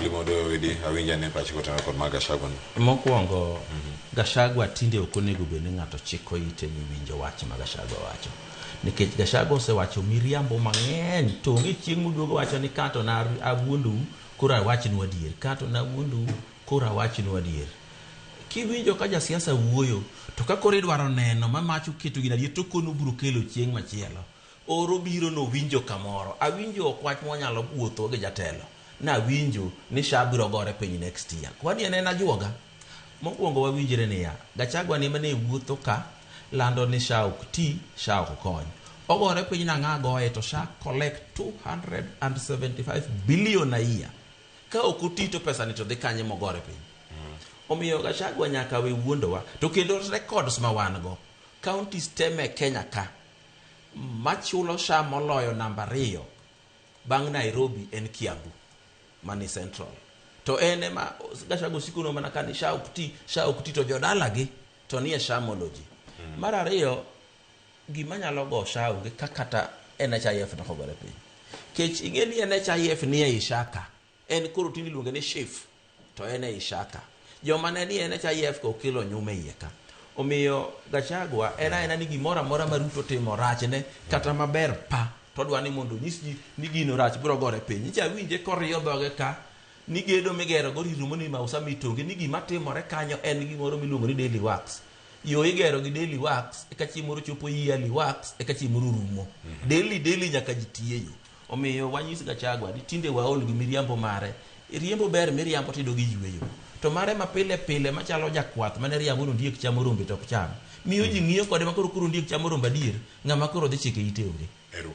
Limo doyo widi awinja ne pachi kotana kod ma Gachagua ni. Mokwongo Gachagua tinde ok onego bed ni ng'ato chiko ite ni winjo wach ma Gachagua wacho. Nikech Gachagua osewacho miriambo mang'eny to onge chieng' moduogo wacho ni ka to na awuondou koro awachnu adier. Ka to na awuondou koro awachnu adier. Kiwinjo ka jasiasa wuoyo to ka koro idwaro neno ma mach oketo gin adier to okono obiro kelo chieng' machielo. Or obiro nowinjo kamoro. Awinjo okwach mwanyalo wuotho gi jatelo. Nawinjo ni sha biro gore piny next year. Kwani en en ajuoga? Mokwongo wawinjre niya, Gachagua ni emane wuotho ka lando ni sha ok ti, sha ok kony. Ogore piny nang'o agoye to sha collect 275 billion a year. Ka ok oti to pesa ni to dhi kanye mogore piny? Omiyo Gachagua nyaka we wuondowa. To kendo records ma wan go, counties te me Kenya ka, Machulo sha moloyo namba ariyo bang' Nairobi en Kiambu mani Central. To en ema Gachagua osiko no mana kani sha ok ti, sha ok ti to jodalagi to nie sha moloji. Mm. Mar ariyo gima nyalo go sha onge kakata NHIF nokogore piny. Kech ing'e ni NHIF nie Ishaka. En koro tinde iluonge ni Shif, to en ei Shaka. Joma ne ni en cha IF ka okelo nyume iye ka. Omiyo Gachagua en aena ni gimoro amora ma Ruto timo rachne kata maber pa to odwa ni mondo onyis ji ni gino rach biro gore piny. Icha winje koriyo dhoge ka ni gedo migero go rirumo ni mausa mitonge ni gima timore kanyo en gimoro miluongo ni daily works. Yo igero gi daily works eka chieng' moro chopo yearly works eka chieng' moro rumo. Daily daily nyaka ji tiye yo. Omiyo wanyis Gachagua ni tinde waol gi miriambo mare. Riembo ber miriambo tido gi yueyo. To mare ma pile pile machalo jakwath mane riambo nondiek chamo rombe to ok cham. Miyo ji ng'iyo kode makoro koro ondiek chamo rombe adier ng'ama koro dhi chike ite onge.